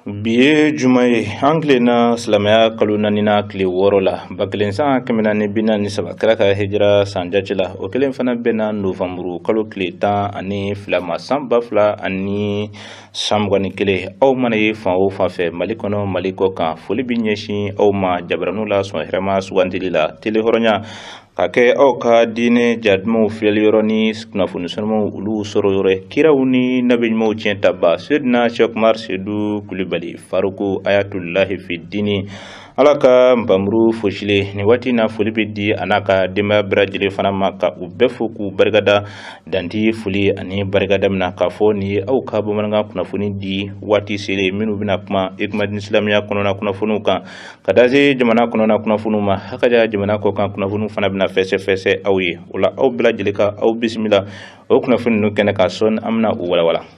bi ye juma ye an tilenna silamɛya kalo naaninan tile wɔɔrɔ la ba kelen san kɛmɛ naani bi naani saba kira ka hijira san jate la o kelen fana bɛnna novanburu kalo tile tan ani fila ma san ba fila ani san mugan ni kelen aw mana ye fan o fan fɛ mali kɔnɔ mali kɔkan foli bɛ ɲɛsin aw ma jabaraniw la sɔn hɛrɛma sugandili la tele hɔrɔnya ka kɛ aw ka diinɛ ja dumanw filɛli yɔrɔ ni kunnafoni sanumaw olu sɔrɔ yɔrɔ ye kiraw ni nabi ɲumanw tiɲɛ tabaa sedina sɛki umaru sedu kulibali faruku ayatulahi fi diini ala ka npanmuru fosilen nin waati na foli bɛ di a n'a ka denbaya bɛɛ lajɛlen fana ma ka u bɛɛ fo k'u barikada dan tɛ foli ani barikada min na k'a fɔ nin ye aw ka bamanankan kunnafoni di waati selen minnu bɛna kuma i komi diinɛ silamɛya kɔnɔna kunnafoniw kan ka taa se jamana kɔnɔna kunnafoniw ma hakaja jamana kɔkan kunnafoniw fana bɛna fɛsɛfɛsɛ aw ye o la aw bɛɛ lajɛlen ka aw bisimila o kunnafoni ninnu kɛnɛ kan sɔɔni an bɛna u walawala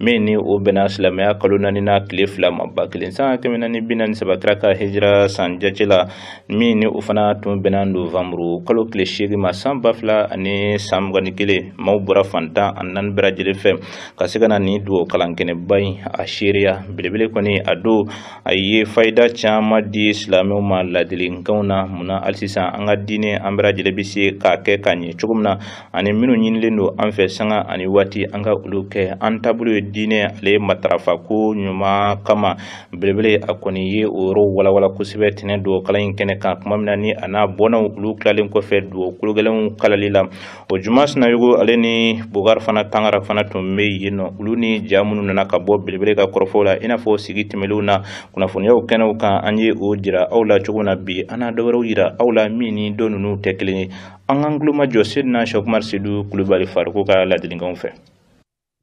min ni o bɛnna silamɛya kalo naaninan tile fila ma ba kelen san kɛmɛ naani bi naani saba kira ka hijira san jate la min ni o fana tun bɛnna novanburu kalo tile seegin ma san ba fila ani san mugan ni kelen maaw bɔra fan tan ani naani bɛɛ lajɛlen fɛ ka se ka na nin dugawu kalan kɛnɛba in a seereya belebele kɔni a don a ye fayida caman di silamɛw ma ladilikanw na munna hali sisan an ka diinɛ an bɛɛ lajɛlen bɛ se k'a kɛ k'a ɲɛ cogo min na ani minnu ɲinilen don an fɛ sanga ani waati an ka olu kɛ an taabolo ye diinɛ ale in matarafa ko ɲuman kama belebele a kɔni ye o yɔrɔw walawala kosɛbɛ tɛnɛn don kalan in kɛnɛ kan tuma min na ni a n'a bɔnnaw olu tilalen kɔfɛ dugawu kologɛlɛnw kalanli la o juma sinayogo ale ni bogari fana tangara fana tun bɛ yen nɔ olu ni ja minnu nana ka bɔ belebele ka kɔrɔfɔw la i n'a fɔ sigi tɛmɛlenw na kunnafoniyaw kɛnɛw kan an ye o jira aw la cogo na bi an na dɔwɛrɛw jira aw la min ni dɔ ninnu tɛ kelen ye An k'an tulo majɔ Seydina Sɛki Umaru Sedu Kulibali Faruku ka ladilikanw fɛ.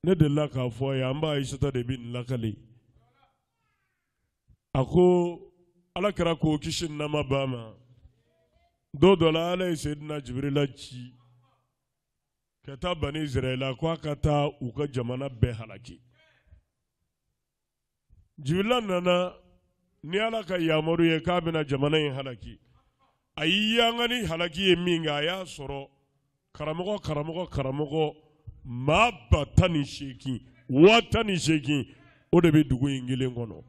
Ne delila k'a fɔ a ye, an ba Ayisata de bɛ nin lakali. A ko Ala kira ko kisi ni nɛɛma b'a ma, don dɔ la Ala ye Seydina Jibirila ci ka taa Bani Izirayila ko a ka taa u ka jamana bɛɛ halaki. jibirila nana ni ala ka yamaru ye k'a bɛna jamana in halaki a y'i yanga ni halaki ye min kɛ a y'a sɔrɔ karamɔgɔ karamɔgɔ karamɔgɔ maa ba tan ni seegin waa tan ni seegin o de bɛ dugu in kelen kɔnɔ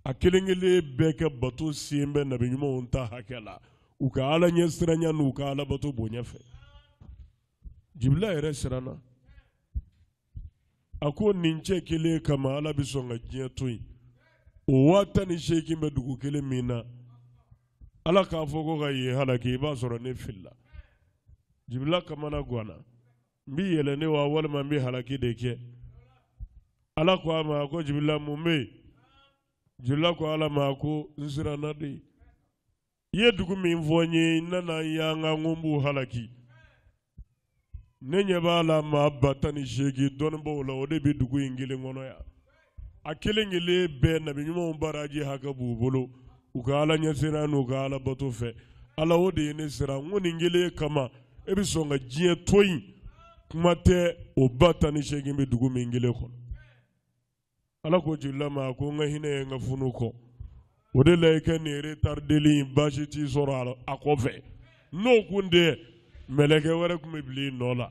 a kelen kelen bɛɛ ka bato sen bɛ nabi ɲumanw ta hakɛ la u ka ala ɲɛsiranya n'u ka alabato bonya fɛ jibirila yɛrɛ siranna a ko nin cɛ kelen kama ala bɛ sɔn ka diɲɛ to yen o waa tan ni seegin bɛ dugu kelen min na ala k'a fɔ ko ka yen halaki i b'a sɔrɔ ne filila jibila kamana gwanna n bi yɛlɛn de wa walima n bi halaki de kɛ ala ko a ma ko jibila mun bɛ yen jibila ko ala ma ko n siranna de i ye dugu min fɔ n ye n nana yan ko n b'u halaki ne ɲɛ b'a la maa ba tan ni seegin dɔnnibaaw la o de bɛ dugu in kelen kɔnɔ yan a kelen kelen bɛɛ nabi ɲumanw baraji hakɛ b'u bolo u ka ala ɲɛsiran n'u ka ala bato fɛ ala o de ye ne siran n ko nin kelen kama e bɛ sɔn ka diɲɛ to yen kuma tɛ o ba tan ni seegin bɛ dugu min kelen kɔnɔ ala ko jibirila ma ko n ka hinɛ ye n ka funu kɔn o de la i kɛ nin retardeli in baasi t'i sɔrɔ a kɔfɛ n'o kun tɛ mɛlɛkɛ wɛrɛ kun bɛ bila i nɔ la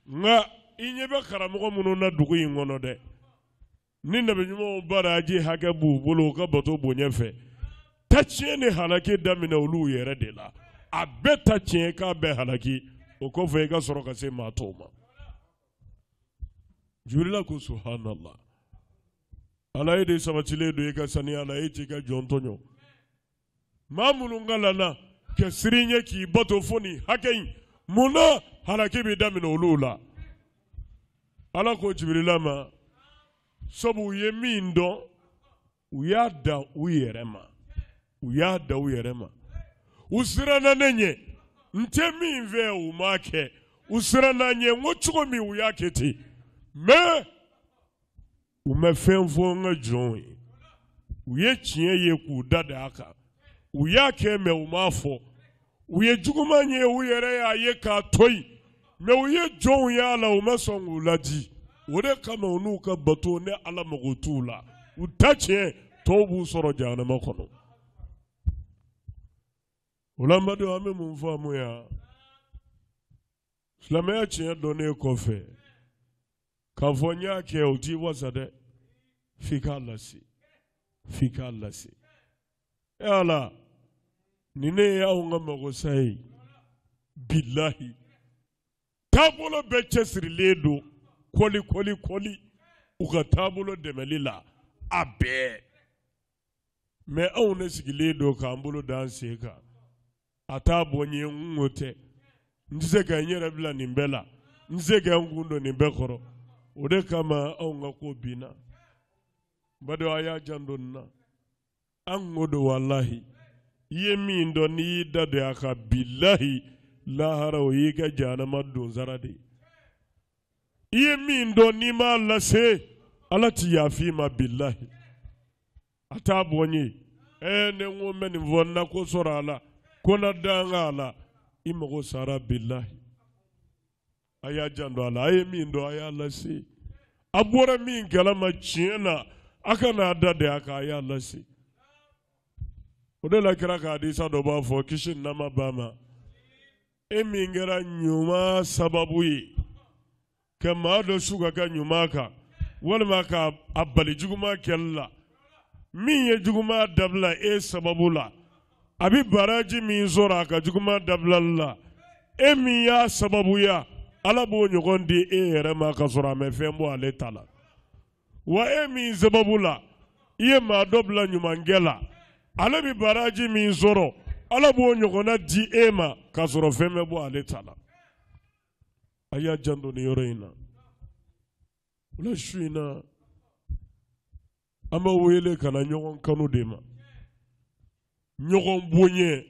nka i ɲɛ bɛ karamɔgɔ minnu na dugu in kɔnɔ dɛ ni nabi ɲumanw baraji hakɛ b'u bolo u ka bato bonya fɛ taa tiɲɛ ni halaki daminɛ olu yɛrɛ de la a bɛɛ ta tiɲɛ k'a bɛɛ halaki o kɔfɛ i ka sɔrɔ ka se maa tɔw ma jibirila ko subuhanala ala e de sabatilen don i ka saniya la e t'i ka jɔn tɔɲɔ maa minnu kalanna ka siran i ɲɛ k'i bato fo nin hakɛ in mun na halaki bɛ daminɛ olu la ala ko jibirila ma sabu u ye min dɔn u y'a da u yɛrɛ ma u siranna ne ɲɛ n tɛ min fɛ u m'a kɛ u siranna n ɲɛ n ko cogo min u y'a kɛ ten mais u ma fɛn fɔ n ka jɔnw ye u ye tiɲɛ ye k'u da da a kan u y'a kɛ mais u m'a fɔ u ye juguman ye u yɛrɛ y'a ye k'a to yen mais u ye jɔnw y'a la u ma sɔn k'u laadi o de kama u n'u ka bato ne ala mago t'u la u ta tiɲɛ tɔw b'u sɔrɔ jahanama kɔnɔ o la n badenw an bɛ mun faamu yan silamɛya tiɲɛ dɔnnen kɔfɛ k'a fɔ n y'a kɛ o t'i wasa dɛ f'i k'a lase f'i k'a lase e ala ni ne ye anw ka magosa ye bilahi taabolo bɛɛ cɛsirilen don kɔli kɔli kɔli u ka taabolo dɛmɛli la a bɛɛ mais anw ne sigilen don k'an bolo da an sen kan a t'a bɔ n ye n ko tɛ n tɛ se ka n yɛrɛ bila nin bɛɛ la n tɛ se ka n kun don nin bɛɛ kɔrɔ o de kama anw ka ko binna badenw a y'a janto nin na an k'o dɔn walahi i ye min dɔn n'i y'i da don a kan bilahi lahara o y'i ka jahanama donsara de ye i ye min dɔn n'i m'a lase ala ti yafa i ma bilahi a t'a bɔ n ye ɛɛ ne ko n bɛ nin fɔ n na ko sɔrɔ a la ko na danga a la i mago sara bilahi a y'a janto a la a ye min dɔn a y'a lase a bɔra min kalama tiɲɛ na a kana a da de a kan a y'a lase o de la kira ka hadisa dɔ b'a fɔ kisi ni nɛɛma b'a ma e min kɛra ɲuman sababu ye ka maa dɔ su ka kɛ ɲuman kan walima ka a bali juguman kɛli la min ye juguman dabila e sababu la a bɛ baraji min sɔrɔ a ka juguman dabilali la e min y'a sababuya ala b'o ɲɔgɔn di e yɛrɛ ma ka sɔrɔ a ma fɛn bɔ ale ta la wa e min sababu la i ye maa dɔ bila ɲumankɛ la ale bɛ baraji min sɔrɔ ala b'o ɲɔgɔnna di e ma ka sɔrɔ fɛn ma bɔ ale ta la a y'a janto nin yɔrɔ in na o la su in na An b'a wele ka na ɲɔgɔn kanu de ma ɲɔgɔn boɲɛ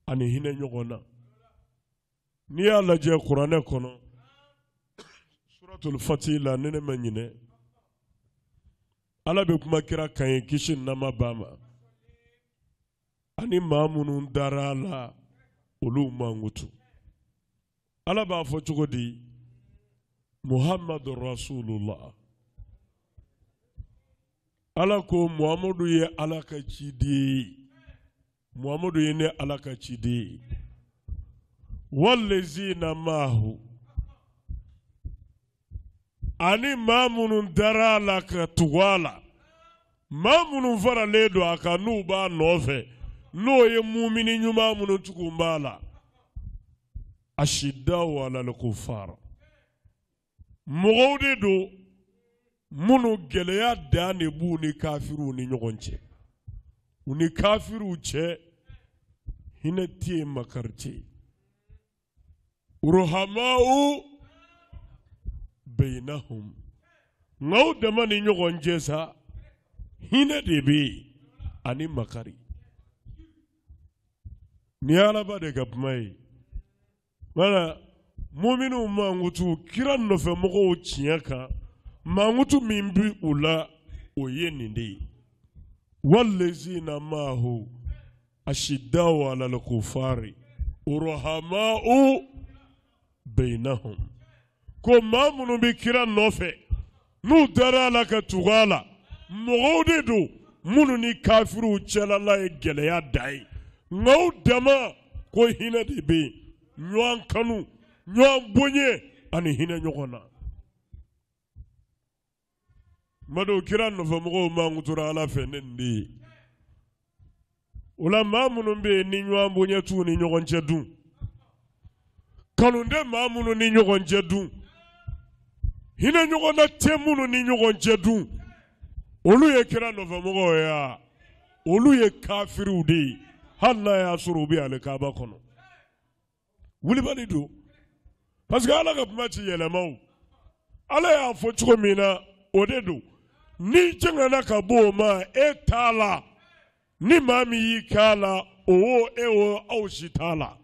ani hinɛ ɲɔgɔn na n'i y'a lajɛ kuranɛ kɔnɔ suratul fatih la ni ne ma ɲinɛ Ala bɛ kuma kira kan ye kisi ni nɛɛma b'a ma ani maa minnu dara a la olu mankutu ala b'a fɔ cogo di muhammadu rasulullah ala ko muhammadu ye ala ka ciden ye muhammadu ye ne ala ka ciden ye wallazina maahu ani maa minnu dara a la ka tugu a la maa minnu faralen don a kan n'u b'a nɔfɛ n'o ye mumini ɲuman minnu tugu b'a la ashidaw alal kufar mɔgɔw de don minnu gɛlɛya dan de b'u ni kafiriw ni ɲɔgɔn cɛ u ni kafiriw cɛ hinɛ tɛ yen makari tɛ yen Ruhamau bainahum nka u dama ni ɲɔgɔn cɛ sa hinɛ de bɛ yen ani makari nin alaba de ka kuma ye wala mumini mankutu kira nɔfɛ mɔgɔw tiɲɛ kan mankutu min bɛ u la o ye nin de ye wallazina maahu ashiddau alal kuffari ruhamau bainahum ko maa minnu bɛ kira nɔfɛ n'u dara a la ka tugu a la mɔgɔw de don minnu ni kafiriw cɛlala ye gɛlɛya da ye nka u dama ko hinɛ de bɛ yen ɲɔgɔn kanu ɲɔgɔn bonya ani hinɛ ɲɔgɔn na Madu kira nɔfɛ mɔgɔw mankutura ala fɛ ni nin de ye o la maa minnu bɛ yen ni ɲɔgɔn bonya t'u ni ɲɔgɔn cɛ dun kanu tɛ maa minnu ni ɲɔgɔn cɛ dun hinɛ ɲɔgɔn na tɛ minnu ni ɲɔgɔn cɛ dun olu ye kira nɔfɛ mɔgɔw ye wa olu ye kafiriw de ye hali n'a y'a sɔrɔ u bɛ alikaaba kɔnɔ wulibali don parce que ala ka kuma ti yɛlɛma o ala y'a fɔ cogo min na o de don n'i jɛngɛnna ka bɔ o ma e t'a la ni maa min y'i kalan o e o aw si t'a la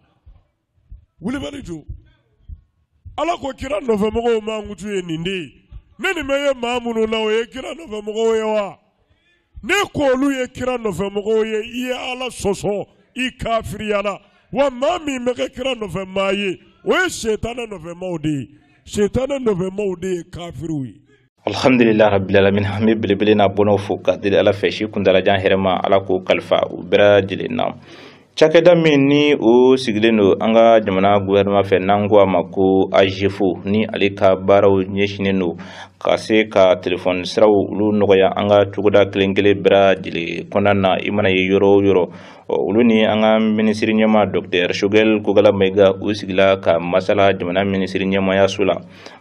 wulibali don ala ko kira nɔfɛmɔgɔw mankutu ye nin de ye ni nin ma ye maa minnu na o ye kira nɔfɛmɔgɔw ye wa n'e ko olu ye kira nɔfɛ mɔgɔw ye i ye ala sɔsɔ i kafiriyala wa maa min ma kɛ kira nɔfɛ maa ye o ye setanɛ nɔfɛ maaw de ye setanɛ nɔfɛ maaw de ye kafiriw ye alhamdulillah rabbil alamin an bɛ belebele n'a bɔnnaw fo ka deli ala fɛ si kuntalajan hɛrɛma ala k'o kalifa u bɛɛ lajɛlen na Cakɛda min ni o sigilen don an ka jamana gouvernement fɛ n'an ko a ma ko AGEFAU ni ale ka baaraw ɲɛsinnen don ka se ka telefɔni siraw olu nɔgɔya an ka togoda kelenkelen bɛɛ lajɛlen kɔnɔna na i mana ye yɔrɔ o yɔrɔ ɔ olu ni an ka minisiri ɲɛma dɔktɛri sogɛli kokala mayiga u sigila ka masala jamana minisiri ɲɛmayaso la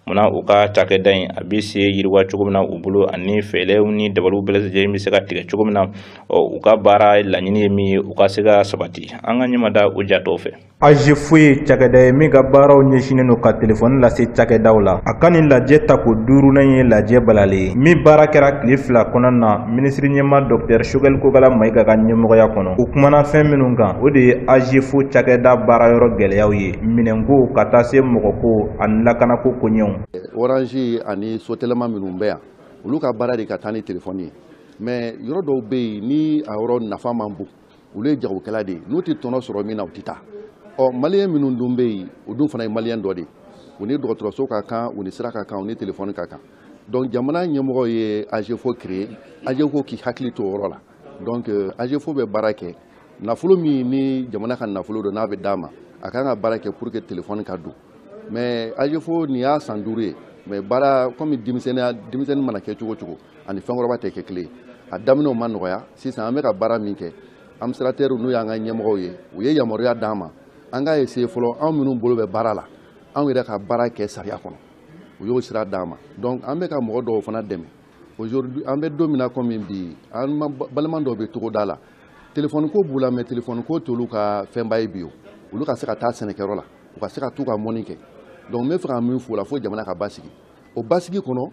munna u ka cakɛda in a bɛ se yiriwa cogo min na u bolo ani fɛɛrɛw ni dabaliw bɛɛ lajɛlen bɛ se ka tigɛ cogo min na ɔ u ka baara laɲini ye min ye u ka se ka sabati an ka ɲɛmada o jatɔw fɛ AGEFAU ye cakɛda ye min ka baaraw ɲɛsinnen don ka telefɔni lase cakɛdaw la a ka nin lajɛ tako duurunan ye lajɛ balalen ye min baara kɛra tile fila kɔnɔna minisiri ɲɛma dɔktɛri sogɛli kokala mayiga ka ɲɛmɔgɔya kɔnɔ u kumana fɛn minnu kan o de ye AGEFAU cakɛda baarayɔrɔ gɛlɛyaw ye minɛnko ka taa se mɔgɔko ani lakanako koɲɛw orange ani sotɛlɛma minnu bɛ yan olu ka baara de ka taa ni telefɔni ye mais yɔrɔ dɔw bɛ yen ni a yɔrɔ nafa man bon olu ye jagokɛla de ye n'u tɛ tɔnɔ sɔrɔ min na u tɛ taa ɔ maliyɛn minnu dun bɛ yen u dun fana ye maliyɛn dɔ de ye u ni dɔgɔtɔrɔso ka kan u ni sira ka kan u ni telefɔni ka kan donc jamana ɲɛmɔgɔ ye AGEFAU créer AGEFAU k'i hakili to o yɔrɔ la donc euh, agefo bɛ baara kɛ nafolo min ni jamana ka nafolo don n'a bɛ d'a ma a kan ka baara kɛ pour que telefɔni ka don mais agefo nin y'a san duuru ye mais baara komi denmisɛnninya denmisɛnnin mana kɛ cogo cogo ani fɛnkɔrɔba tɛ kɛ kelen a daminɛw ma nɔgɔya sisan an bɛ ka baara min kɛ administratɛriw n'u y'an ka ɲɛmɔgɔw ye u ye yamaruya d'an ma an k'a essayer fɔlɔ anw minnu bolo bɛ baara la anw yɛrɛ ka baara kɛ sariya kɔnɔ u y'o sira d'an ma donc an bɛ ka mɔgɔ dɔw fana dɛmɛ aujourd'hui an bɛ don min na komi bi an balima dɔw bɛ togoda la telefɔni ko b'u la mais telefɔni ko t'olu ka fɛnba ye bi o olu ka se ka taa sɛnɛkɛyɔrɔ la u ka se ka t'u ka mɔni kɛ donc n bɛ fɛ ka min f'o la fo jamana ka basigi o basigi kɔnɔ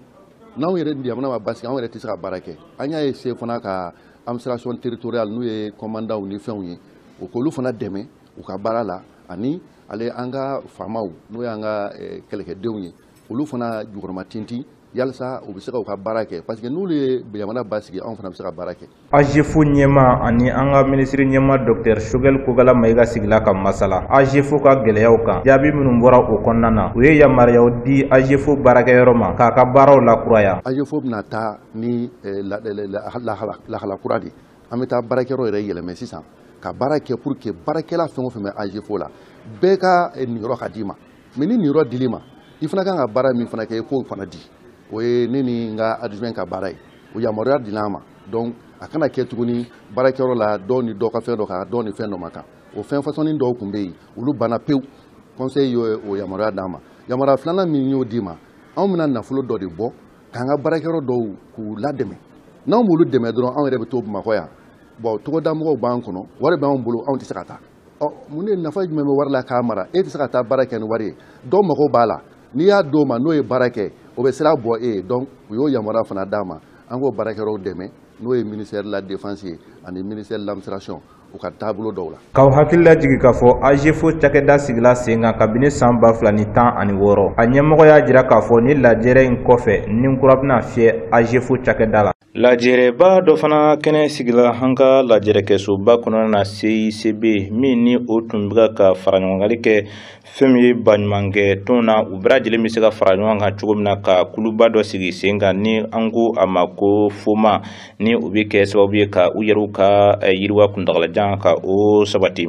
n'anw yɛrɛ jamana ma basigi anw yɛrɛ tɛ se ka baara kɛ an y'a essayer fana ka administration territoriale n'u ye kɔmandanw ni fɛnw ye o k'olu fana dɛmɛ u ka baara la ani ale an ka faamaw n'o y'an ka eh, kɛlɛkɛdenw ye olu fana jukɔrɔmatintin yalisa u bɛ se ka u ka baara kɛ parce que n'olu ye jamana basigi anw fana bɛ se ka baara kɛ AGEFO ɲɛmaa ani an ka minisiriɲɛmaa Docteur Choguel Kokalla Maïga sigila ka masala AGEFO ka gɛlɛyaw kan jaabi minnu bɔra o kɔnɔna na u ye yamaruyaw di AGEFO baarakɛyɔrɔ ma k'a ka baaraw lakuraya AGEFO bɛna taa ni eh, lahala kura de an bɛ taa baarakɛyɔrɔ yɛrɛ yɛlɛmɛ sisan ka baara kɛ pour que baarakɛla fɛn o fɛn bɛ AGEFO la bɛɛ ka eh, niyɔrɔ ka d'i ma mais ni niyɔrɔ dil'i ma i fana kan ka baara min fana kɛ i k'o fana di o ye ne ni n ka adjoint ka baara ye o yamaruya dila an ma donc a kana kɛ tuguni baarakɛyɔrɔ la dɔw ni dɔ ka fɛn dɔ kan dɔw ni fɛn dɔ ma kan o fɛn fasɔnni dɔw tun bɛ yen olu banna pewu conseil ye o yamaruya d'an ma yamaruya filanan min y'o d'i ma anw bɛna nafolo dɔ de bɔ k'an ka baarakɛyɔrɔ dɔw k'u ladɛmɛ n'anw b'olu dɛmɛ dɔrɔn anw yɛrɛ bɛ to bamakɔ yan bon togodamɔgɔw b'an kɔnɔ wari b'anw bolo anw tɛ se ka taa mun de nafa jumɛn bɛ wari la k'a mara e tɛ se ka taa baara kɛ ni wari ye dɔ mago b'a la n'i y'a d'o ma n'o ye baara kɛ o bɛ sira bɔ e ye donc u y'o yamaruya fana d'an ma an k'o baarakɛyɔrɔw dɛmɛ n'o ye ministère de la défense ye ani ministère de l'administration u ka taabolo dɔw la. k'aw hakili lajigin k'a fɔ AGEFO cakɛda sigila sen kan kabini san ba fila ni tan ani wɔɔrɔ a ɲɛmɔgɔ y'a jira k'a fɔ nin lajɛrɛ in kɔfɛ ni kura bɛna fiyɛ AGEFO cakɛda la. Lajɛrɛba dɔ fana kɛnɛ sigila an ka lajɛrɛkɛsoba kɔnɔna na CICB min ni o tun bɛ ka faraɲɔgɔnkanli kɛ fɛn min ye baɲumankɛ tɔn na u bɛɛ lajɛlen bɛ se ka fara ɲɔgɔn kan cogo min na ka kuluba dɔ sigi sen kan ni an ko a ma ko foma ni u bɛ kɛ sababu ye ka u yɛrɛw ka eh, yiriwa kuntagalajan ka o sabati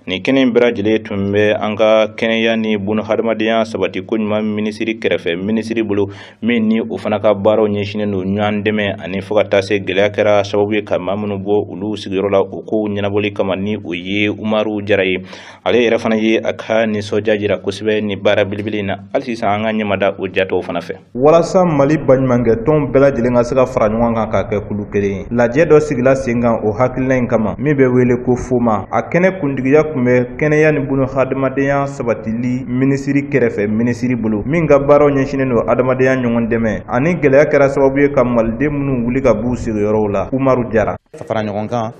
nin kɛnɛ in bɛɛ lajɛlen tun bɛ an ka kɛnɛya ni bunahadamadenya sabati ko ɲuman minisiri kɛrɛfɛ minisiri bolo min ni o fana ka baaraw ɲɛsinnen don ɲɔgɔn dɛmɛ ani fo ka taa se gɛlɛya kɛra sababu ye ka maa minnu bɔ olu sigiyɔrɔ la o kow ɲɛnabɔli kama ni o ye umaru jara ye ale yɛrɛ fana ye a ka nisɔndiya jira kosɛbɛ ni baara belebele in na hali sisan an ka ɲɛmada o ja tɔw fana fɛ walasa mali baɲumankɛ tɔnw bɛɛ lajɛlen ka se ka fara ɲɔgɔn kan ka kɛ kulu kelen ye Lajɛ dɔ sigila sen kan o hakilina in kama min bɛ wele ko FOMA a kɛnɛ kuntigiya tun bɛ kɛnɛya ni bunahadamadenya sabatili minisiri kɛrɛfɛ minisiri bolo min ka baaraw ɲɛsinnen don hadamadenya ɲɔgɔn dɛmɛ ani gɛlɛya kɛra sababu ye ka Maliden minnu wuli ka b'u sigiyɔrɔw la Umaru Jara fara ɲɔgɔn kan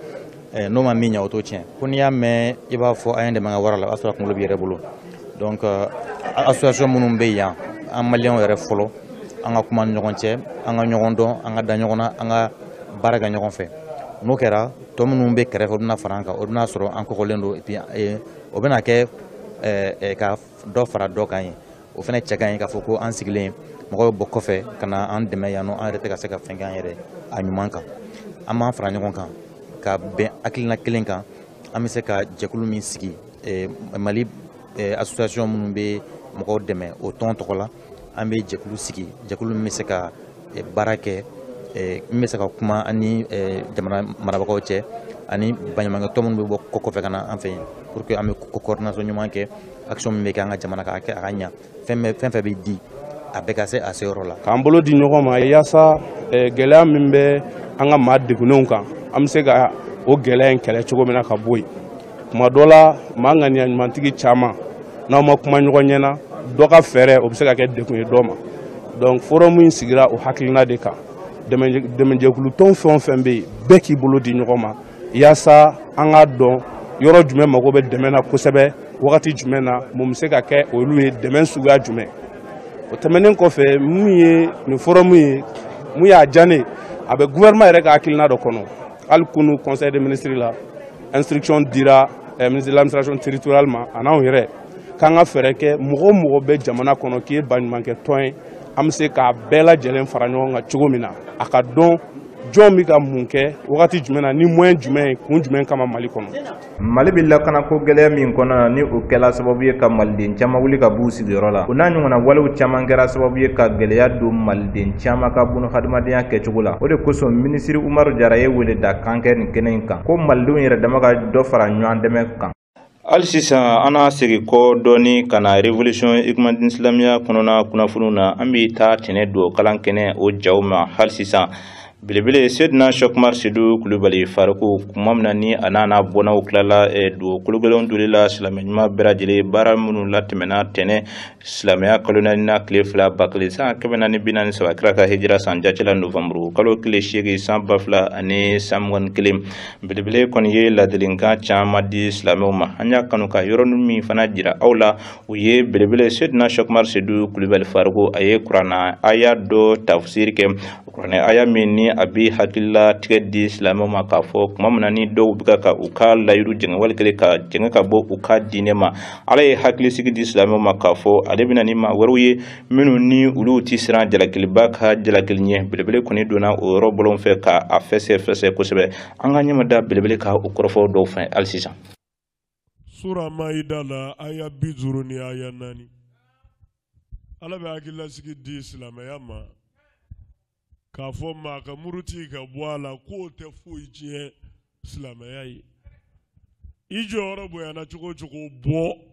Eh, n'o ma min ɲɛ o t'o tiɲɛ ko n'i y'a mɛn i b'a fɔ a ye n dɛmɛ n ka wara la o y'a sɔrɔ kunkolo b'i yɛrɛ bolo donc eh, association minnu bɛ yan an maliyɛnw yɛrɛ fɔlɔ an ka kuma ni ɲɔgɔn cɛ an ka ɲɔgɔn dɔn an ka da ɲɔgɔn na an ka baara kɛ ɲɔgɔn fɛ n'o kɛra tɔ minnu bɛ kɛrɛfɛ o bɛna fara an kan o bɛna sɔrɔ an kɔgɔlen don et puis eh, o bɛna kɛ ka dɔ fara dɔ kan ye o fana cɛ ka ɲi k'a fɔ ko an sigilen mɔgɔw bɛ bɔ kɔfɛ ka na an dɛmɛ yan nɔ an yɛrɛ tɛ ka se ka fɛn kɛ an yɛrɛ a ɲuman kan an b'an fara ɲɔgɔn kan ka bɛn hakilina kelen kan an bɛ se ka jɛkulu min sigi eh, mali eh, association minnu bɛ mɔgɔw dɛmɛ o tɔn tɔgɔ la an bɛ jɛkulu sigi jɛkulu min bɛ se ka eh, baara kɛ eh, min bɛ se ka kuma an ni eh, jamana marabagaw cɛ ani baɲumankɛ tɔn minnu bɛ bɔ kɔ kɔfɛ ka na an fɛ yen pour que an bɛ coordination ɲuman kɛ action min bɛ kɛ an ka jamana ka kɛ a ka ɲa fɛn o fɛn bɛ di a bɛɛ ka se a seyɔrɔ la k'an bolo di ɲɔgɔn ma yaasa gɛlɛya min bɛ an ka maa degunenw kan an bɛ se ka o gɛlɛya in kɛlɛ cogo min na ka bɔ yen tuma dɔ la maa ŋaniya ɲumantigi caman n'aw ma kuma ɲɔgɔn ɲɛ na dɔ ka fɛɛrɛ o bɛ se ka kɛ degun ye dɔ ma donc forum in sigira o hakilina de kan dɛmɛjɛkulu tɔn fɛn o fɛn bɛ yen bɛɛ k'i bolo di ɲɔgɔn ma yaasa an k'a dɔn yɔrɔ jumɛn mago bɛ dɛmɛ na kosɛbɛ wagati jumɛn na mun bɛ se ka kɛ olu ye dɛmɛ suguya jumɛn o tɛmɛnen kɔfɛ min ye nin forum ye mun y'a diya ne ye a bɛ gouvernement yɛrɛ ka hakilina dɔ kɔnɔ hali kunu conseil des ministres la instruction dira eh, ministre de l'administration territoriale ma a n'anw yɛrɛ k'an ka fɛɛrɛ kɛ mɔgɔ o mɔgɔ bɛ jamana kɔnɔ k'i ye baɲumankɛ tɔn ye an bɛ se k'a bɛɛ lajɛlen fara ɲɔgɔn kan cogo min na a ka dɔn jɔn bɛ ka mun kɛ wagati jumɛn na ni moyen jumɛn ye kun jumɛn kama mali kɔnɔ mali bɛ lakanako gɛlɛya min kɔnɔ na ni o kɛla sababu ye ka maliden caman wuli ka b'u sigiyɔrɔ la o n'a ɲɔgɔnna walew caman kɛra sababu ye ka gɛlɛya don maliden caman ka bunahadamadenya kɛcogo la o de kosɔn minisiri umaru jara ye weleda kan kɛ nin kɛnɛ in kan ko malidenw yɛrɛ dama ka dɔ fara ɲɔgɔn dɛmɛ kan hali sisan an n'a segin kɔ dɔɔni ka na revolution ekumadin silamɛya kɔnɔna kunnafoniw na an bɛ taa tɛnɛn don kalan kɛnɛ o jaw ma hali sisan Belebele sedina sɛki umaru sedu kulubali faruku tuma min na ni a n'a n'a bɔnnaw tilala eh, dugawu kologɛlɛnw doli la silamɛ ɲuman bɛɛ lajɛlen baara minnu latɛmɛna tɛnɛn silamɛya kalo naani na tile fila ba kelen san kɛmɛ naani bi naani saba kira ka hijira san jate la novanburu kalo tile seegin san ba fila ani san mugan ni kelen belebele kɔni ye ladilikan caman di silamɛw ma an y'a kanu ka yɔrɔnin min fana jira aw la o ye belebele sedina sɛkumari sedu kulibali faruku a ye kuranɛ aya dɔ tafsiri kɛ kuranɛ aya min ni a bɛ hakililatigɛ di silamɛw ma k'a fɔ tuma min na ni dɔw bɛ ka u ka layiru jɛngɛ wali kelen ka jɛngɛ ka bɔ u ka diinɛ ma ala ye hakilisigi di silamɛw ma k'a fɔ ale bɛna ni maa wɛrɛw ye minnu ni olu tɛ siran jalakiliba ka jalakili ɲɛ belebele kɔni donna o yɔrɔ bɔlɔn fɛ ka a fɛsɛfɛsɛ kosɛbɛ an ka ɲɛmada belebele ka o kɔrɔfɔ dɔw fɛ hali sisan Sura Maayida la aya bi duuru ni aya naani Ala bɛ hakililasigi di silamɛya ma k'a fɔ maa ka muruti ka bɔ a la k'o tɛ foyi tiɲɛ silamɛya ye i jɔyɔrɔ bonyana cogo o cogo bɔ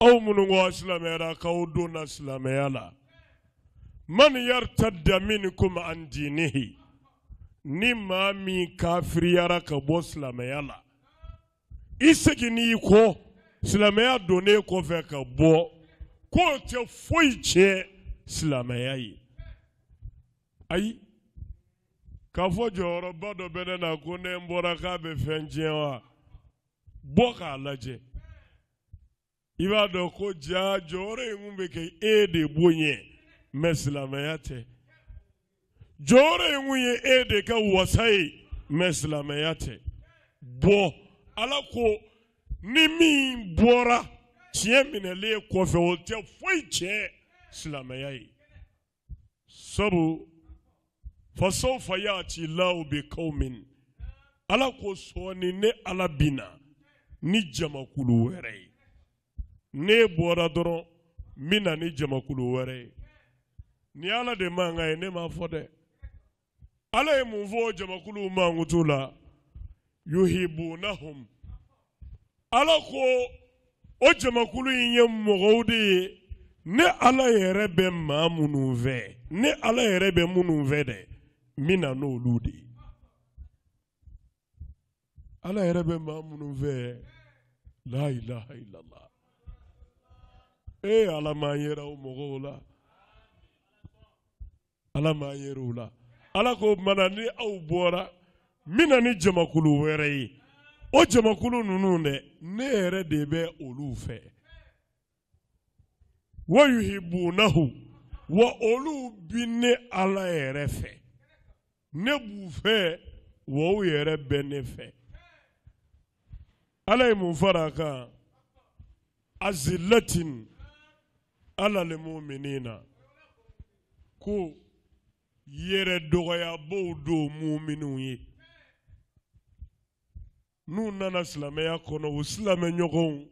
aw minnu ko aw silamɛyara k'aw donna silamɛya la man yartadda minkum an dinihi ni maa min kafiriyara ka bɔ silamɛya la i seginn'i kɔ silamɛya donnen kɔfɛ ka bɔ k'o tɛ foyi tiɲɛ silamɛya ye ayi k'a fɔ jɔyɔrɔba dɔ bɛ ne na ko ne n bɔra k'a bɛ fɛn tiɲɛ wa bɔ k'a lajɛ i b'a dɔn ko jaa jɔyɔrɔ ye kun bɛ kɛ e de bonya ye mɛ silamɛya tɛ jɔyɔrɔ ye kun ye e de ka wasa ye mɛ silamɛya tɛ bɔ ala ko ni min bɔra tiɲɛ minɛlen kɔfɛ o tɛ foyi tiɲɛ silamɛya ye sabu fasawfa yati lahu bikawmin ala ko sɔɔni ne ala bina ni jamakulu wɛrɛ ye n'e bɔra dɔrɔn n bina ni jamakulu wɛrɛ ye nin ala de mankan ye ne m'a fɔ dɛ ala ye mun fɔ jamakulu mankutu la yuhibunahum ala ko o jamakulu in ye mɔgɔw de ye ne ala yɛrɛ bɛ maa minnu fɛ ne ala yɛrɛ bɛ minnu fɛ dɛ n bɛ na n'olu de ye ala yɛrɛ bɛ maa minnu fɛ la ilaha illallah e ala m'an yera o mɔgɔw la ala m'an yera u la ala ko mana ni aw bɔra n bina ni jamakulu wɛrɛ ye o jamakulu ninnu dɛ ne yɛrɛ de bɛ olu fɛ wa yuhibunahu wa olu bi ne ala yɛrɛ fɛ ne b'u fɛ wa u yɛrɛ bɛ ne fɛ ala ye mun fara a kan azilatin alal muminina ko yɛrɛ dɔgɔyabaw don muminiw ye n'u nana silamɛya kɔnɔ u silamɛ ɲɔgɔnw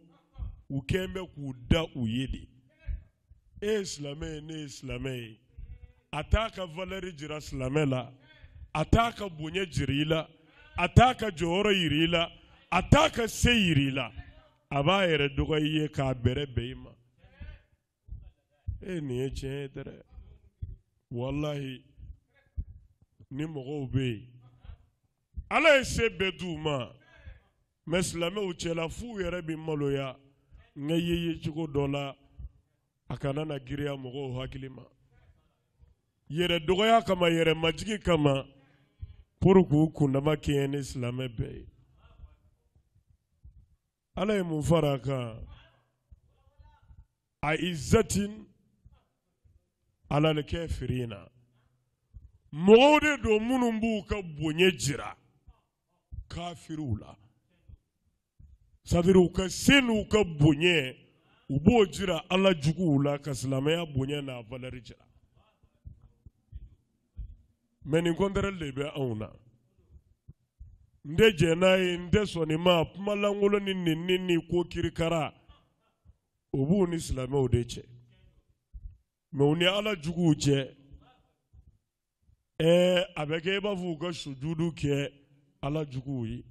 u kɛlen bɛ k'u da u ye de e ye silamɛ ye ne ye silamɛ ye a t'a ka valɛri jira silamɛ la a t'a ka bonya jira i la a t'a ka jɔyɔrɔ jira i la a t'a ka se jira i la a b'a yɛrɛ dɔgɔya i ye k'a bɛrɛ bɛn i ma nin ye tiɲɛ ye dɛ walahi ni mɔgɔw bɛ yen ala ye se bɛɛ di u ma mɛ silamɛw cɛla f'u yɛrɛ bɛ maloya nka ye ye cogo dɔ la a kana na giriya mɔgɔw hakili ma yɛrɛ dɔgɔya kama yɛrɛ majigi kama pour k'u kundama kɛɲɛ ni silamɛ bɛɛ ye ala ye mun fara a kan a izatin alal kafirina mɔgɔw de don minnu b'u ka bonya jira kafiriw la sadiri u ka se n'u ka bonya u b'o jira ala juguw la ka silamɛya bonya n'a valɛri jira mɛ nin contraire de bɛ anw na n tɛ jɛn n'a ye n tɛ sɔn nin ma kuma lankolon ni nɛni ni ko kirikara o b'u ni silamɛw de cɛ mɛ u ni ala juguw cɛ a bɛ kɛ i b'a fɔ u ka sujudu kɛ ala juguw ye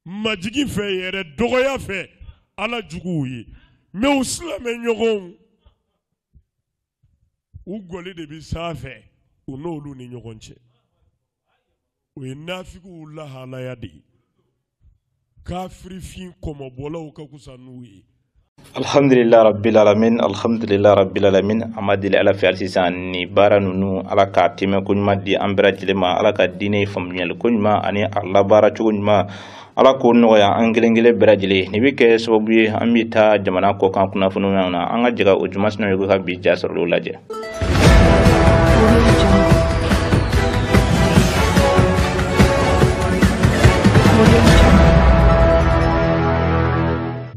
majigi fɛ yɛrɛ dɔgɔya fɛ ala juguw ye mɛ u silamɛ ɲɔgɔnw u gɔli de bɛ sanfɛ u n'olu ni ɲɔgɔn cɛ o ye nafigiw lahalaya de ye kafirifin kɔmɔbɔlaw ka kusa n'u ye alhamdulila rabbil alamin alhamdulila rabbil alamin an b'a deli ala fɛ hali sisan ni baara ninnu ala ka tɛmɛ ko ɲuman di an bɛɛ lajɛlen ma ala ka diinɛ faamuyali ko ɲuman ani a labaara cogo ɲuman ala k'o nɔgɔya an kelen kelen bɛɛ lajɛlen ye nin bɛ kɛ sababu ye an bɛ taa jamana kɔkan kunnafoniw na an ka jɛ ka ojuma sinayɔgɔ ka bi ja sɔrɔlenw lajɛ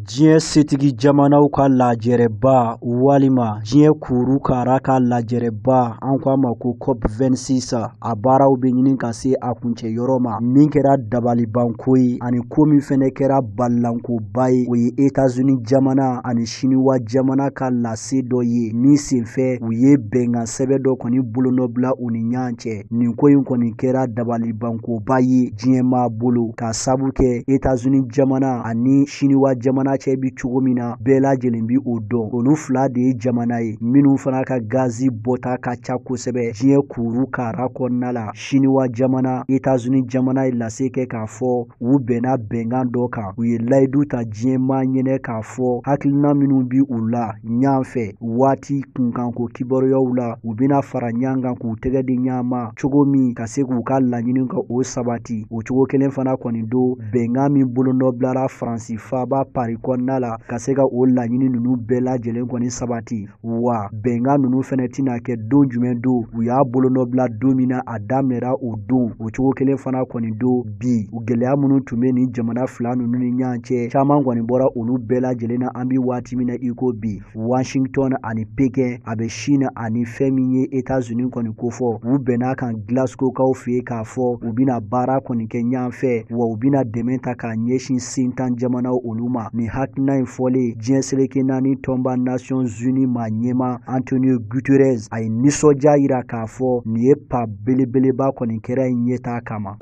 diɲɛ setigi jamanaw ka lajɛrɛba walima diɲɛ kuru kara ka lajɛrɛba an ko a ma ko cop 26 a baaraw bɛ ɲini ka se a kuncɛ yɔrɔ ma min kɛra dabalibanko ye ani ko min fɛnɛ kɛra balilankoba ye o ye etazuni jamana ani siniwa jamana ka lase dɔ ye min senfɛ u ye bɛnkan sɛbɛn dɔ kɔni bolonɔbila u ni ɲɔgɔn cɛ nin ko in kɔni kɛra dabalibankoba ye diɲɛmaa bolo k'a sabu kɛ etazuni jamana ani siniwa jamana cɛ bi cogo min na bɛɛ lajɛlen bi o dɔn olu fila de ye jamana ye minnu fana ka gazi bɔta ka ca kosɛbɛ diɲɛ kuru kara kɔnɔna la siniwa jamana etazuni jamana ye lase kɛ k'a fɔ u bɛnna bɛnkan dɔ kan u ye layidu ta diɲɛmaa ɲɛnɛ k'a fɔ hakilina minnu bi u la ɲan fɛ waati kunkanko kibaruyaw la u bɛna fara ɲan kan k'u tɛgɛ di ɲan ma cogo min ka se k'u ka laɲini ka o sabati o cogo kelen fana kɔni don bɛnkan min bolonɔbilara faransi faaba pari kɔnɔna la ka se ka o laɲini ninnu bɛɛ lajɛlen kɔni sabati wa bɛnkan ninnu fɛnɛ tɛna kɛ don jumɛn don u y'a bolonɔbila don min na a daminɛra o don o cogo kelen fana kɔni don bi gɛlɛya minnu tun bɛ nin jamana fila ninnu ni ɲɔgɔn cɛ caman kɔni bɔra olu bɛɛ lajɛlen na an bɛ waati min na i ko bi washington ani pekɛn a bɛ chine ani fɛn min ye etats unis kɔni kofɔ u bɛnn'a kan glasgowkaw fɛ yen k'a fɔ u bɛna baara kɔni kɛ ɲɔgɔn fɛ wa u bɛna dɛmɛ ta k'a ɲɛsin sentan jamanaw olu ma nin hakilina in fɔlen diɲɛ seleke naani tɔnba nations unies maa ɲɛmaa antonio guterres a ye nisɔndiya yira k'a fɔ nin ye pa belebeleba kɔni kɛra in ɲɛtaa kama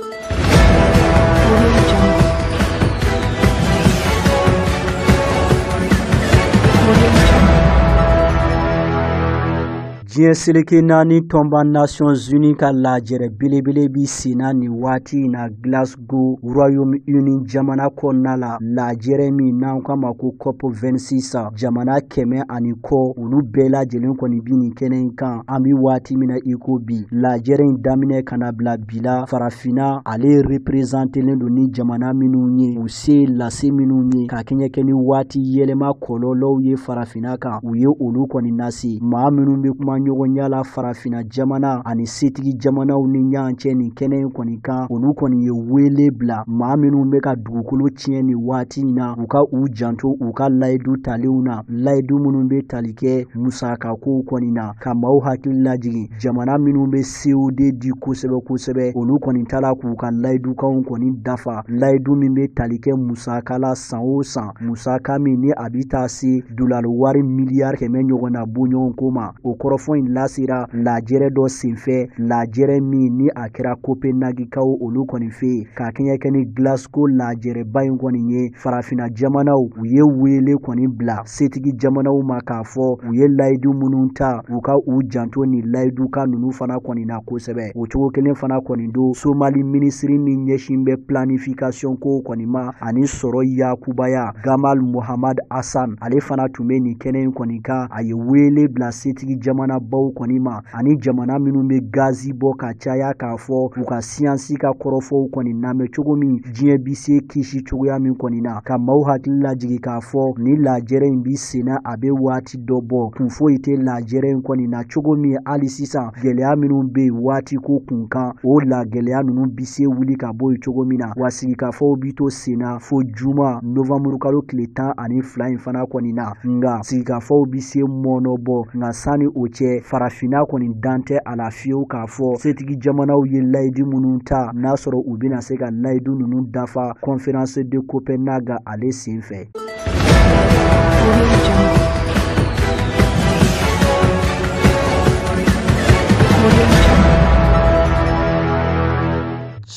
diɲɛ seleke naani tɔnba nations unies ka lajɛrɛ belebele bi senna nin waati in na glas gow royaume uni jamana kɔnɔna la lajɛrɛ min n'an k'a ma ko cop 26 jamana kɛmɛ ani kɔ olu bɛɛ lajɛlen kɔni bi nin kɛnɛ in kan an bi waati min na i ko bi lajɛrɛ in daminɛ ka na bila bi la farafina ale reprezantelen don ni jamana minnu ye u se lase minnu ye ka kɛɲɛ kɛ ni waati yɛlɛma kɔlɔlɔw ye farafina kan u ye olu kɔni nase maa minnu bɛ kumaɲɔgɔnya la farafina jamana ani setigi jamanaw ni ɲɔgɔn cɛ nin kɛnɛ in kɔni kan olu kɔni ye wele bila maa minnu bɛ ka dugukolo tiɲɛ nin waati in na u ka u janto u ka layidu talenw na layidu minnu bɛ tali kɛ musakakow kɔni na ka maaw hakili lajigin jamana minnu bɛ co2 di kosɛbɛ kosɛbɛ olu kɔni tala k'u ka layidukanw kɔni dafa layidu min bɛ tali kɛ musaka la san o san musaka min ni a bɛ taa se dolari wari miliyari kɛmɛ ɲɔgɔn n'a bɔɲɔgɔnko ma o kɔrɔfɔ in lasera lajɛrɛ dɔ senfɛ lajɛrɛ min ni a kɛra kopenagikaw olu kɔni fɛ yen ka kɛɲɛ kɛ ni glasgow lajɛrɛba in kɔni ye farafina jamanaw u ye wele kɔni bila setigi jamanaw ma k'a fɔ u ye layidu minnu ta u ka u janto nin layidukan ninnu fana kɔni na kosɛbɛ o cogo kelen fana kɔni don somali minisiri min ɲɛsin bɛ planifikasiyɔn ko kɔni ma ani sɔrɔ yakubaya Gamal Mohamed Hassan ale fana tun bɛ nin kɛnɛ in kɔni kan a ye weele bila setigi jamana baw kɔni ma ani jamana minnu bɛ gazi bɔ ka caya k'a fɔ u ka siyansi ka kɔrɔfɔw kɔni lamɛn cogo min diɲɛ bi se kisi cogoya min kɔni na ka maaw hakili lajigi k'a fɔ ni lajɛrɛ in bi senna a bɛ waati dɔ bɔ kun foyi tɛ lajɛrɛ in kɔni na cogo min hali sisan gɛlɛya minnu bɛ yen waati ko kun kan o la gɛlɛya ninnu bi se wuli ka bɔ yen cogo min na wa sigikafɔw bi to senna fo juma novanburu kalo tile tan ani fila in fana kɔni na nka sigikafɔw bi se mɔɔnɔbɔ nka sanni o cɛ farafinna kɔni dan tɛ a la fiyewu k'a fɔ setigi jamanaw ye layidu minnu ta n'a sɔrɔ u bɛna se ka layidu ninnu dafa conférence de Copenhague ale sen fɛ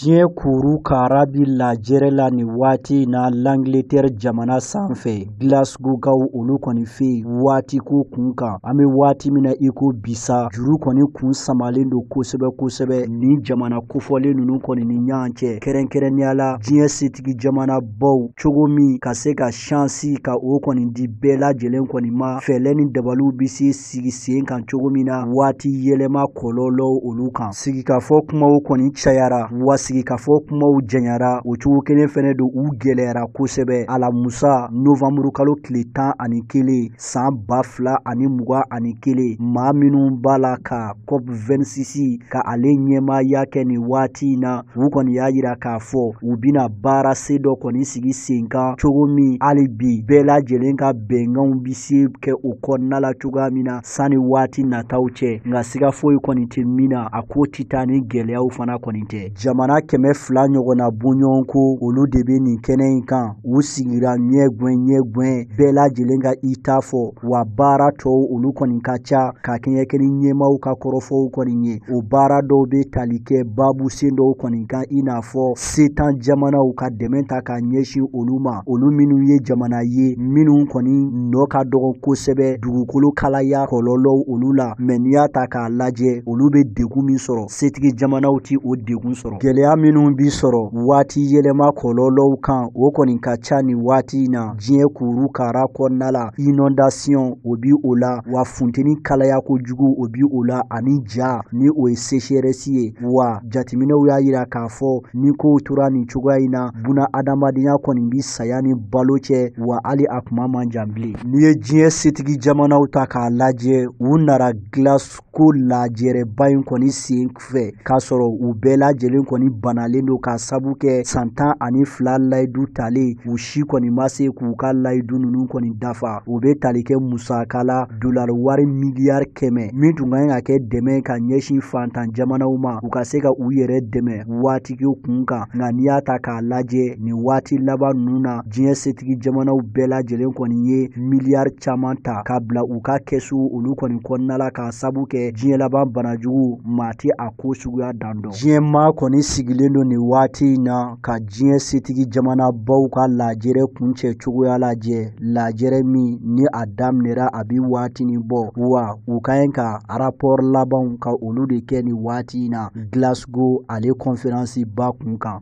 diɲɛ kuru kara bi lajɛrɛ la nin waati in na l'Angleterre jamana sanfɛ Glasgowkaw olu kɔni fɛ yen waati ko kun kan an bɛ waati min na i ko bisa juru kɔni kun samalen don kosɛbɛ kosɛbɛ nin jamana kofɔlen nunu kɔni ni ɲɔgɔn cɛ kɛrɛnkɛrɛnnenya la diɲɛ setigi jamana baw cogo min ka se ka shansi ka o kɔni di bɛɛ lajɛlen kɔni ma fɛɛlɛ ni dabaliw bɛ se sigi sen kan cogo min na waati yɛlɛma kɔlɔlɔw olu kan sigikafɔ kumaw kɔni cayara wa sigikafɔ kumaw janyara o cogo kelen fɛnɛ don u gɛlɛyara kosɛbɛ alamusa novanburu kalo tile tan ani kelen san ba fila ani mugan ani kelen maa minnu b'a la ka COP 26 ka ale ɲɛmaaya kɛ nin waati in na u kɔni y'a yira k'a fɔ u bɛna baara sen dɔ kɔni sigi sen kan cogo min hali bi bɛɛ lajɛlen ka bɛnkanw bi se kɛ o kɔnɔna la cogoya min na sanni waati nataw cɛ nka siga foyi kɔni tɛ min na a ko ti taa ni gɛlɛyaw fana kɔni tɛ jamana kɛmɛ fila ɲɔgɔnna bɔɲɔgɔnko olu de bɛ nin kɛnɛ in kan u sigira ɲɛ gɛn ɲɛ gɛn bɛɛ lajɛlen ka i ta fɔ wa baara tɔw olu kɔni ka ca ka kɛɲɛ kɛ ni ɲɛmaaw ka kɔrɔfɔw kɔni ye o baara dɔw bɛ tali kɛ babu sen dɔw kɔni kan i n'a fɔ setan jamanaw ka dɛmɛ ta ka ɲɛsin olu ma olu minnu ye jamana ye minnu kɔni nɔ ka dɔgɔ kosɛbɛ dugukolo kalaya kɔlɔlɔw olu la mais n'i y'a ta k'a lajɛ olu bɛ degun min sɔrɔ setigi jamanaw ti o degun sɔrɔ gɛlɛya minnu bi sɔrɔ waati yɛlɛma kɔlɔlɔw kan o kɔni ka ca ni waati in na diɲɛ kuru kara kɔnɔna la inondation o bi o la wa funteni kalaya kojugu o bi o la ani ja ni o ye sécheresse ye wa jateminɛw y'a yira k'a fɔ ni kow tora nin cogoya in na buna adamadenya kɔni bi saya ni balo cɛ wa hali a kuma man jan bilen n'i ye diɲɛ setigi jamanaw ta k'a lajɛ u nara Glas ko lajɛrɛba in kɔni sen fɛ k'a sɔrɔ u bɛɛ lajɛlen kɔni banalen don k'a sabu kɛ san tan ani fila layidu talen u si kɔni ma se k'u ka layidu ninnu kɔni dafa o bɛ tali kɛ musaka la dolari wari miliyari kɛmɛ min tun ka ɲi ka kɛ dɛmɛ ka ɲɛsin fantan jamanaw ma u ka se ka u yɛrɛ dɛmɛ waatiko kun kan nka n'i y'a ta k'a lajɛ nin waati laban ninnu na diɲɛ setigi jamanaw bɛɛ lajɛlen kɔni ye miliyari caman ta ka bila u ka kɛsu olu kɔni kɔnɔna la k'a sabu kɛ diɲɛ laban banajugu maa tɛ a ko suguya dan dɔn diɲɛ maa kɔni sigilen don nin waati in na ka diɲɛ setigi jamanabaw ka lajɛrɛ kuncɛ cogoya lajɛ lajɛrɛ min ni a daminɛra a bi waatinin bɔ wa u ka ɲi ka arapɔri labanw ka olu de kɛ nin waati in na Glas ko ale kɔnferansi ba kun kan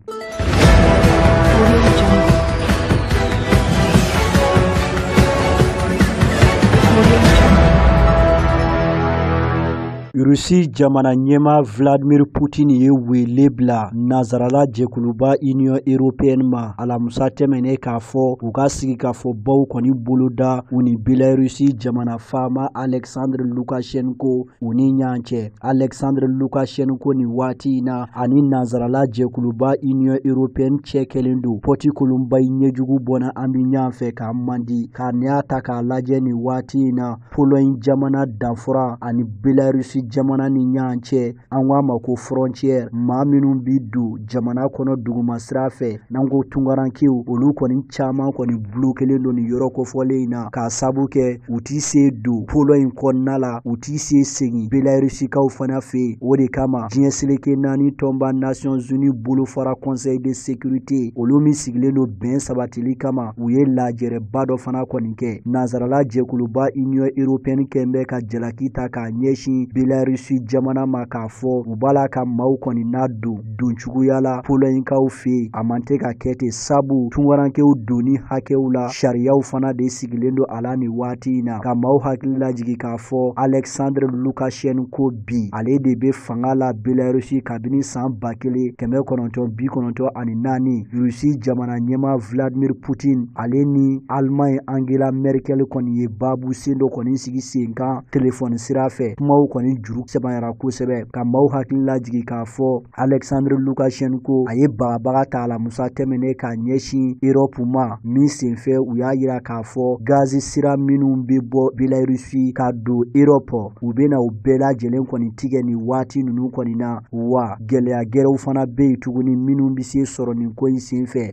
Rusi jamana ɲɛmaa Vladimir Putin ye wele bila nazarala jɛkuluba Union européenne ma alamusa tɛmɛnen k'a fɔ u ka sigikafɔbaw kɔni boloda u ni Belarus jamana faama Alexandre Lukashenko u ni ɲɔgɔn cɛ. Alexandre Lukashenko nin waati in na ani nanzarala jɛkuluba Union Européenne cɛ kɛlen don pɔti kolonba ye ɲɛjugu bɔnna an bɛ ɲɔgɔn fɛ k'an man di ka n'i y'a ta k'a lajɛ nin waati in na Pologne jamana danfara ani Belarus jamana ni ɲɔgɔn cɛ an k'a ma ko frontière maa minnu bɛ don jamana kɔnɔ duguma sira fɛ n'an ko tungarankew olu kɔni caman kɔni bulokelen don nin yɔrɔ kofɔlen in na k'a sabu kɛ u ti se don pologne kɔnɔna la u ti se segin belarusikaw fana fɛ yen o de kama diɲɛ seleke naani tɔnba nations unies bolofara conseil de sécurité olu min sigilen don bɛn sabatili kama u ye lajɛrɛba dɔ fana kɔni kɛ nansarala jɛkuluba union européenne kɔni bɛ ka jalaki ta k'a ɲɛsin belarusi jamana ma k'a fɔ u b'a la ka maaw kɔni nadon don cogoya la polognekaw fɛ yen a man tɛ ka kɛ ten sabu tungarankew donni hakɛw la sariyaw fana de sigilen don a la nin waati in na ka maaw hakili lajigi k'a fɔ alexandre lukashenko bi ale de bɛ fanga la belarusi kabini san ba kelen kɛmɛ kɔnɔntɔn bi kɔnɔntɔn ani naani rusi jamana ɲɛmaa vladimir putin ale ni alemaɲi angela merkel kɔni ye baabu sen dɔ kɔni sigi sen kan telefɔni sira fɛ kumaw kɔni juru sɛbanyara kosɛbɛ ka maaw hakili lajigi k'a fɔ alexandre lukashenko a ye bagabaga ta alamusa tɛmɛnen k'a ɲɛsin erɔpu ma min senfɛ u y'a yira k'a fɔ gazi sira minnu bɛ bɔ belarusi ka don erɔpu u bɛna u bɛɛ lajɛlen kɔni tigɛ nin waati ninnu kɔni na wa gɛlɛya gɛrɛw fana bɛ yen tuguni minnu bɛ se sɔrɔ nin ko in senfɛ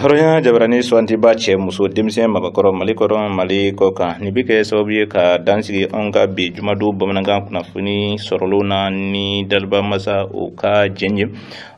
hɔrɔnya jabarani suwantiba cɛ muso denmisɛn mabakɔrɔ mali kɔnɔ mali kɔ kan nin bɛ kɛ sababu ye ka dansigi anw ka bi jumadon bamanankan kunnafoni sɔrɔlo na ni daliba masa o ka jɛn ye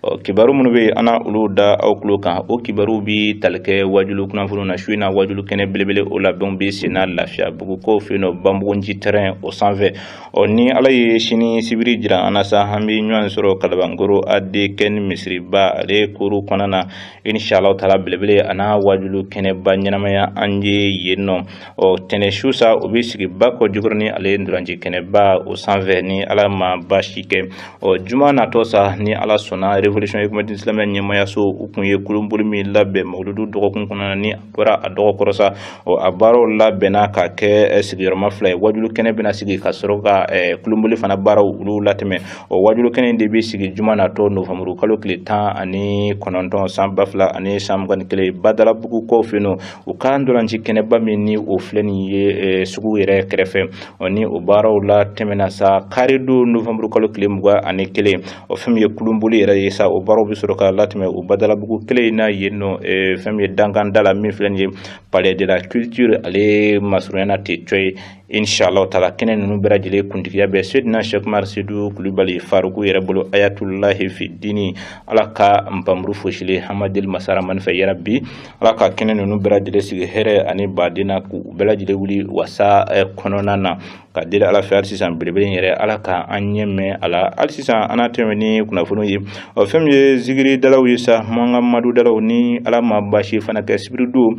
ɔ kibaru minnu bɛ an na olu da aw tulo kan o kibaru bɛ tali kɛ wajulu kunnafoni na su in na wajulu kɛnɛ belebele o labɛnw bɛ senna lafiyabugukaw fɛ yen nɔ banbugunci tɛrɛn o sanfɛ ɔ ni ala ye sini sibiri jira an na sa an bɛ ɲɔgɔn sɔrɔ kalabankoro adekɛni misiriba ale koro kɔnɔna na inshallah taala belebele a na wajulu kɛnɛba ɲɛnamaya an ye yen nɔ ɔ tɛnɛ su sa o bɛ sigi bakɔjikɔrɔni ale ntolaci kɛnɛba o sanfɛ ni ala ma baasi kɛ ɔ juma natɔ sa ni ala sɔnna revolution économique islamique ɲɛmaayaso u kun ye kulunboli min labɛn mawuludu dɔgɔkun kɔnɔna ni bɔra a dɔgɔ kɔrɔ sa ɔ a baaraw labɛnna ka kɛ eh, sigiyɔrɔma fila ye wajulu kɛnɛ bɛna sigi ka sɔrɔ ka eh, kulunboli fana baaraw olu latɛmɛ ɔ wajulu kɛnɛ de bɛ sigi juma natɔ novanburu kalo tile tan ani kɔnɔntɔn san ba fila ani san mugan ni kelen badalabugukaw fɛ yen u ka ntolaci kɛnɛba min ni o filɛ nin ye eh, sugu yɛrɛ kɛrɛfɛ ɔ ni o baaraw latɛmɛna sa kari don novanburu kalo tile mugan ani kelen o fɛn min ye kulunboli yɛrɛ ye sa o baaraw bɛ sɔrɔ ka latɛmɛ o badalabugu kelen in na yen nɔ eh, fɛn min ye dankan da la min filɛ nin ye palais de la culture ale masurunya na tɛ cɔ ye inshallah taala kɛnɛ ninnu bɛɛ lajɛlen kuntigiya bɛ sedina sɛkumaru sedu kulubali faruku yɛrɛ bolo ayatulahi fi dini ala ka npanmuru foosilen an b'a deli masa rahamani fɛ yarabi ala ka kɛnɛ ninnu bɛɛ lajɛlen sigi hɛrɛ ani baden na k'u bɛɛ lajɛlen wuli wasa eh, kɔnɔna na ka deli ala fɛ hali sisan belebele in yɛrɛ ala ka an ɲɛ mɛɛn a la hali sisan an na tɛmɛ ni kunnafoniw ye ɔ fɛn min ye zigiri dalaw ye sa mahamadu dalaw ni ala ma baasi fana kɛ sibiridon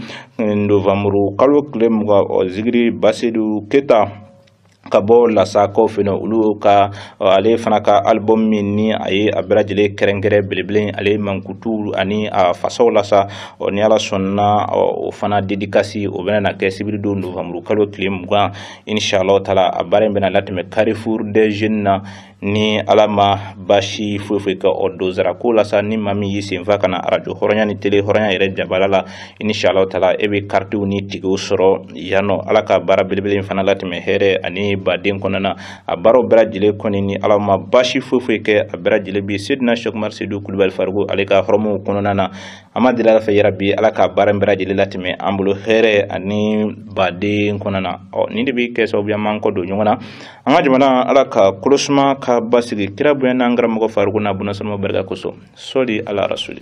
novanburu kalo tile mugan ɔ zigiri basedu keta ka bɔ lasakaw fɛ olu ka ale fana ka album min ni a ye a bɛɛ lajɛlen kɛrɛnkɛrɛn belebele ale mankutu ani a fasaw la sa ni ala sɔnna o fana dedikasi o bɛna na kɛ sibiridon novanburu kalo tile mugan in sha Allah taala a baara in bɛna latɛmɛ Carrefour des jeunes na ni Ala ma baasi foyi foyi kɛ o donsara ko la sa ni maa min y'i sen fa ka na arajo hɔrɔnya ni tele hɔrɔnya yɛrɛ jabala la in sha Allah taala e bɛ karitiw ni tikɛw sɔrɔ yan nɔ Ala ka baara belebele in fana latɛmɛ hɛrɛ ani baden kɔnɔna a baaraw bɛɛ lajɛlen kɔni ni Ala ma baasi foyi foyi kɛ a bɛɛ lajɛlen bi Seydina Sɛkumaru Sedu Kulubali Faruku ale ka hɔrɔmuw kɔnɔna na an b'a deli ala fɛ yarabi ala ka baara in bɛɛ lajɛlen latɛmɛ an bolo hɛrɛ ani baden kɔnɔna na ɔ nin de bɛ kɛ sababu ye an b'an kɔ don ɲɔgɔn na an ka jamana ala ka kolosuma ka basigi kira bonya n'an karamɔgɔ faruku n'a bunasɔnma barika kosɔn sɔli ala rasuli